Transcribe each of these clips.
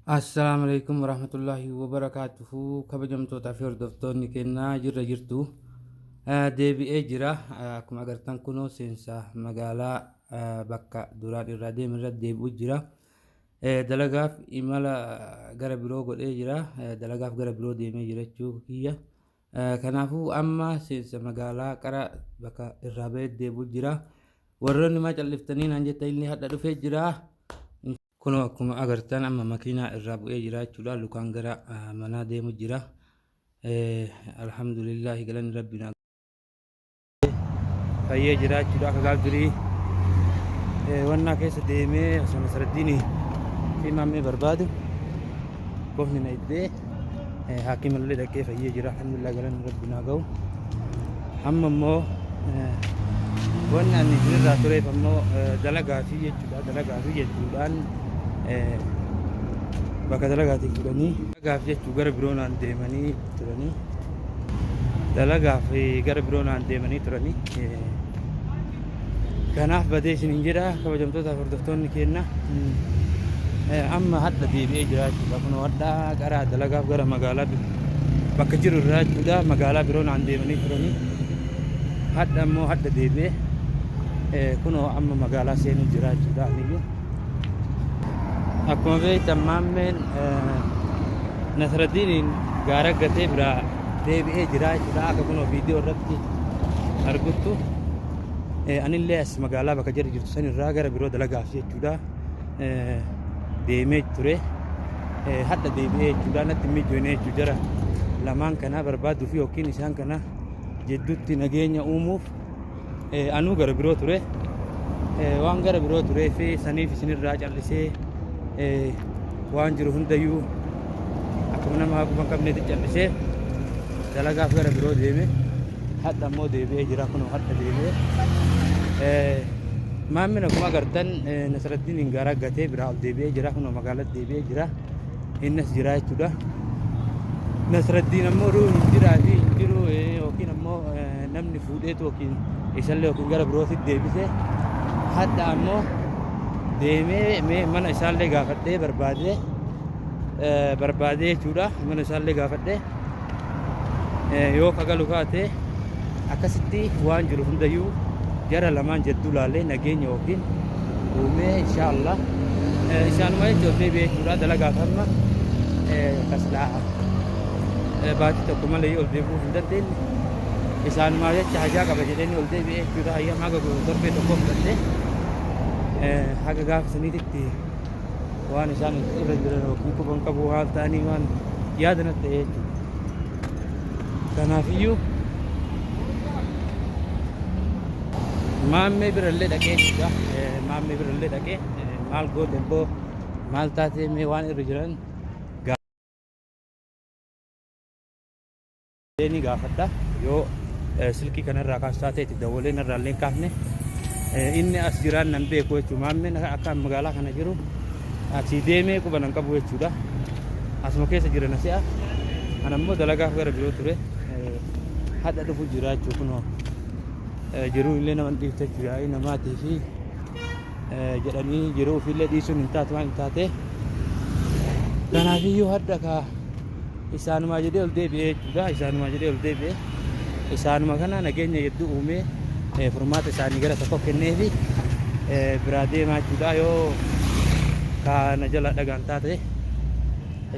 Assalaamu alaikum warahmatullaahi wabarakaatuhu kabajamtootaa fi hordoftoonni kennaa jirra jirtu Eh, deebi'ee jira Eh, akkuma agartan kunoo seensa magaalaa eh, bakka duraan irraa deeme irra deebi'u jira Eh, dalagaaf imala eh, gara biroo godhee jira Eh, dalagaaf gara biroo deemee jira jechuu kiyya Eh, kanaafuu amma seensa magaalaa qara bakka irraa ba'ee deebi'u jira warroonni maa calliftanii naan jettan illee hadha dhufee jira Kunoo akkuma agartan amma makiinaa irraa bu'ee jira jechuudha. Lukaan gara manaa deemu jira. Alhamdulillahi galanni rabbiin fayyee jira jechuudha. Akka gaaf durii wannaa keessa deemee osoo nasraddiinii fi maammee barbaadu qofni na iddee. haakii mallee dhaqee fayyee jira alhamdulillah galanni rabbi naa ga'u amma immoo wanni ani isinirraa tureef ammoo dalagaa fi jechuudha dalagaa fi jechuudhaan bakka dalagaatiin fudhanii dalagaaf jechuu gara biroonaan deemanii turanii dalagaaf gara biroonaan deemanii turanii Kanaaf badee isiniin jedha kabajamtootaaf hordoftoonni keenna amma hadha deebi'ee jira jechuudha. Kunoo hadha gara dalagaaf gara magaalaa bakka jiru irraa jechuudha magaalaa biroo naan deemanii turanii hadha immoo hadha deebi'ee kunoo amma magaalaa seenuu jira jechuudha aniyyuu. Akkuma beektan maammeen Nasraddiiniin gaara gatee biraa deebi'ee jiraa jechuudha akka kunoo viidiyoo irratti arguttu eh, anillee as magaalaa bakka jarri jirtu san irraa gara biroo dalagaaf jechuudha eh, deemee ture eh, hadha deebi'ee jechuudha natti hin mijoone jechuu jara lamaan kanaa barbaaduuf yookiin isaan kana jidduutti nageenya uumuuf Anuu gara biroo ture. Waan gara biroo turee fi saniif isinirraa callisee waan jiru hundayyuu akkuma nama haquma qabneetti callisee dalagaaf gara biroo deeme. Hadha immoo deebi'ee jira kunoo hadha deebi'ee. Maammin akkuma agartan Nasraddiin hin garaa gatee biraa ol deebi'ee jira kunoo magaalatti deebi'ee jira. Innas jiraa jechuudha. Nasraddiin ammoo duu hin jiraa fi hin jiru yookiin ammoo namni fuudheetu yookiin isallee yookiin gara birootti deebise hadha ammoo deemee mee mana isaallee gaafadhee barbaadee barbaadee jechuudha mana isaallee gaafadhee yoo ka galu taate akkasitti waan jiru hundayyuu jara lamaan jedduu laalee nageenya waggiin uumee insha Allah isaanuma jecha ol deebi'ee jechuudha dalagaa kanuma taslaa baatii tokko malee yoo ol deebi'uu hin dandeenye isaanuma jecha hajaa qaba jedhanii ol deebi'ee jechuudha ayyaama haga torbee tokko fudhattee haga gaafa saniititti waan isaan irra jiran yookiin quban qabu haal ta'anii waan yaada natti ta'e jechuudha. Kanaafiyyuu maammee birallee dhaqee jechuudha. Maammee birallee dhaqee maal goote boo maal taatee mee waan irra jiran jedhee ni gaafadha. Yoo silkii kana irraa kaas taatee itti dawwalee narraa illee hin kaafne inni as jiraan nan beeku jechuudha. Maammeen akka magaalaa kana jiru asii deemee quba nan qabu jechuudha. Asuma keessa jira na si'a. Ana immoo dalagaaf gara biroo ture. Hadha dhufu jira jechuudha kunoo. Jiruu illee nama dhiifte jechuudha. Namaatii fi jedhanii jiruu ofiillee dhiisuun hin taatu waan taatee kanaafiyyuu hadha kaa isaanumaa jedhee ol deebi'ee jechuudha isaanumaa jedhee ol deebi'ee isaanuma kana nageenya hedduu uumee furmaata isaanii gara tokko kennee fi biraa deemaa jechuudha yoo kaana jala dhagaan taate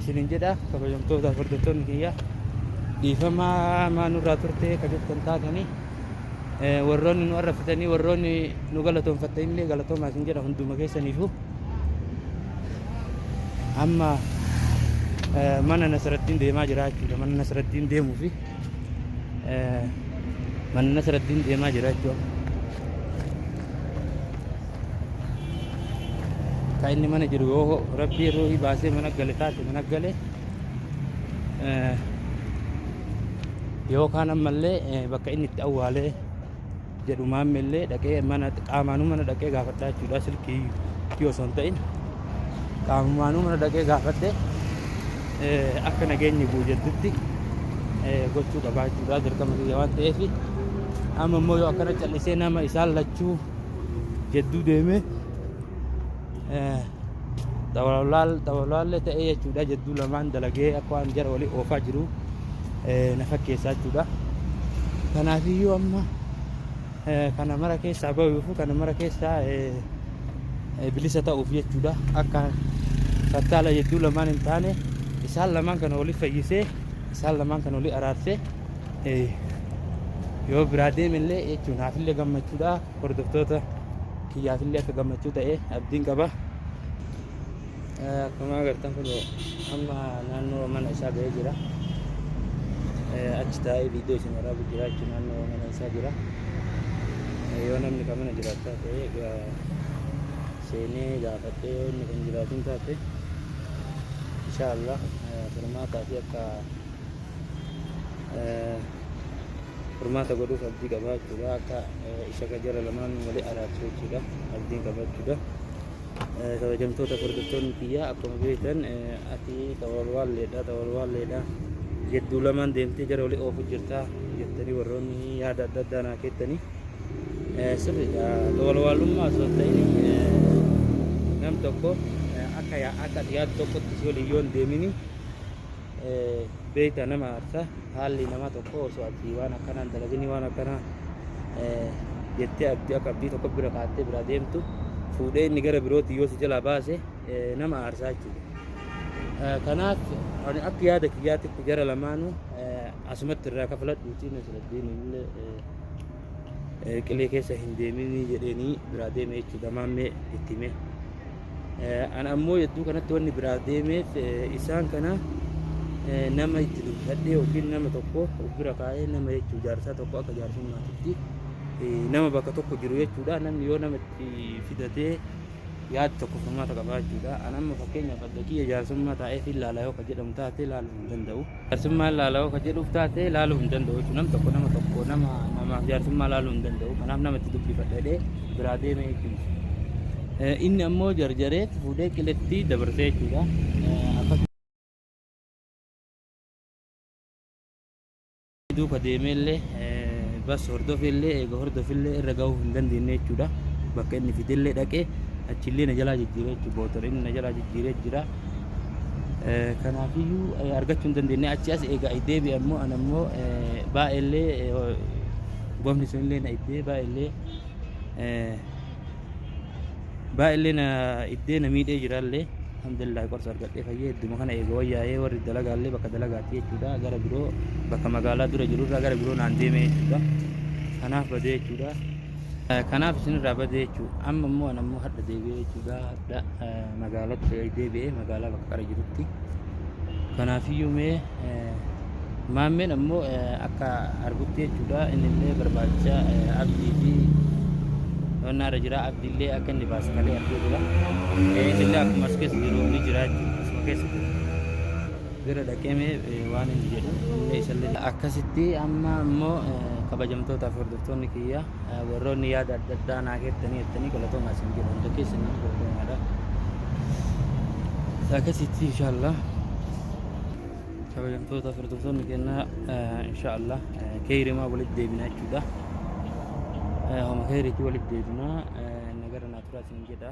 isinin jedha kabajamtoota hordoftoonni kiyya dhiifamaa maa nurraa turtee ka jettan taatanii warroonni nu arrabsitanii warroonni nu galatoonfatta illee galatoomaa isin jedha hunduma keessaniifu amma mana nasrattiin deemaa jira jechuudha mana nasrattiin deemuu fi mana nasrattiin deemaa jira jechuudha kan inni mana jiru yoo rabbii ruuhii baasee mana gale taate mana gale yookaan ammallee bakka inni itti awwaalee jedhu maammeellee dhaqee mana qaamaanuu mana dhaqee gaafadhaa jechuudha silkii yoo osoo hin ta'in qaamumaanuu mana dhaqee gaafadhee akka nageenyi bu'u jedhutti gochuu qabaa jechuudha dirqama kiyya waan ta'eef amma immoo yoo akkana callisee nama isaan lachuu jedduu deemee xawalaallee ta'ee jechuudha jidduu lamaan dalagee akka waan jara walii oofaa jiru na fakkeessaa jechuudha. Kanaafiyyuu amma kana mara keessaa bahuuf kana mara keessaa bilisa ta'uuf jechuudha akka fattaala jidduu lamaan hin taane isaan lamaan kana walii fayyisee isaan lamaan kana walii araarsee yoo biraa deemellee jechuun haafillee gammachuudha. hordoftoota kiyyaafillee akka gammachuu ta'e abdiin qaba. Akkuma agartan kun amma naannoo mana isaa ga'ee jira. Achi taa'ee viidiyoo isin waraabu jira jechuun naannoo mana isaa jira. Yoo namni kan mana jiraachaa ta'e seenee gaafadhee yoo inni kan jiraatin taate inshaallah furmaataa fi akka furmaata godhuuf abdii qabaa jechuudha. Akka ishaka jara lamaan wali araarsu jechuudha. Abdiin qaba jechuudha. Kabajamtoota hordoftoonni kiyyaa akkuma beektan ati xawalwaalleedha xawalwaalleedha jedduu lamaan deemtee jara wali oofu jirta jettanii warroonni yaada adda addaa naa keettanii sirriidha. Xawalwaalummaa osoo hin ta'in nam tokko akka akka yaad tokkotti si waliin yoon deemini beekta nama aarsa haalli nama tokko osoo ati waan akkanaa hin dalaginii waan akkanaa jettee abdii akka abdii tokko bira kaattee biraa deemtu fuudhee inni gara birootti yoo si jalaa baase nama aarsaa jechuudha. Kanaaf ani akka yaada kiyyaatitti jara lamaanuu asumatti irraa kafaladhuuti Nasraddiin illee qilee keessa hin deeminii jedheenii biraa deeme jechuudha maammee itti himee. An ammoo yadduu kanatti wanni biraa deemeef isaan kana nama itti dubbadhee yookiin nama tokko of bira kaa'ee nama jechuu jaarsaa tokko akka jaarsummaatitti nama bakka tokko jiru jechuudha. Namni yoo nama itti fidatee yaad tokko furmaata qabaa jechuudha. An amma fakkeenyaaf adda kiyya jaarsummaa taa'ee fi ilaala yoo ka jedhamu taate ilaaluu hin danda'u. Jaarsummaa laalawoo kan jedhuuf taate laaluu hin danda'u jechuudha. Nam tokko nama tokko nama namaaf jaarsummaa laaluu hin danda'u. Kanaaf nama itti dubbifadha jedhee biraa deeme jechuudha. Eh, Inni ammoo jarjaree itti fuudhee qiletti dabarsee jechuudha. Eh, Akkasuma duuka deemee illee eh, bas hordofee illee eega hordofee illee irra gahuu hin dandeenye jechuudha. Bakka inni fide illee dhaqee achi illee na jalaa jijjiiree jechuudha. Bootora inni na jalaa jijjiiree jira. Kanaafiyyuu argachuu hin dandeenye. Achi as egaa deebi'e ammoo an ammoo baay'eellee gomni sunillee na iddee baay'eellee baay'eellee na iddee na miidhee jiraallee alhamdulillah qorsa argadhee fayyee idduma kana eega wayyaa'ee warri dalagaallee bakka dalagaati jechuudha gara biroo bakka magaalaa dura jirurraa gara biroo naan deemee jechuudha kanaaf badee jechuudha kanaaf isinirraa badee jechuudha amma immoo an ammoo hadha deebi'ee jechuudha magaalatti deebi'ee magaalaa bakka qara jirutti kanaafiyyuu mee maammeen ammoo akka argutti jechuudha inni illee barbaacha abdii fi qonnaa irra jira abdii illee akka inni baasu malee arguu jira inni illee akkuma as keessa jiru ni jira asuma keessa jiru bira dhaqeemee waan inni jedhu illee isallee akkasitti amma ammoo kabajamtootaaf hordoftoonni kiyyaa Warroonni yaada adda addaa naa keettanii jettanii galatoomaa isin jedha hunda keessanitti galatoomaadha. Akkasitti inshaallah kabajamtoota hordoftoonni kennaa inshaallah keeyrimaa walitti deebina jechuudha. Homa keeyriitti walitti deebina nagara naa turaa isin jedha.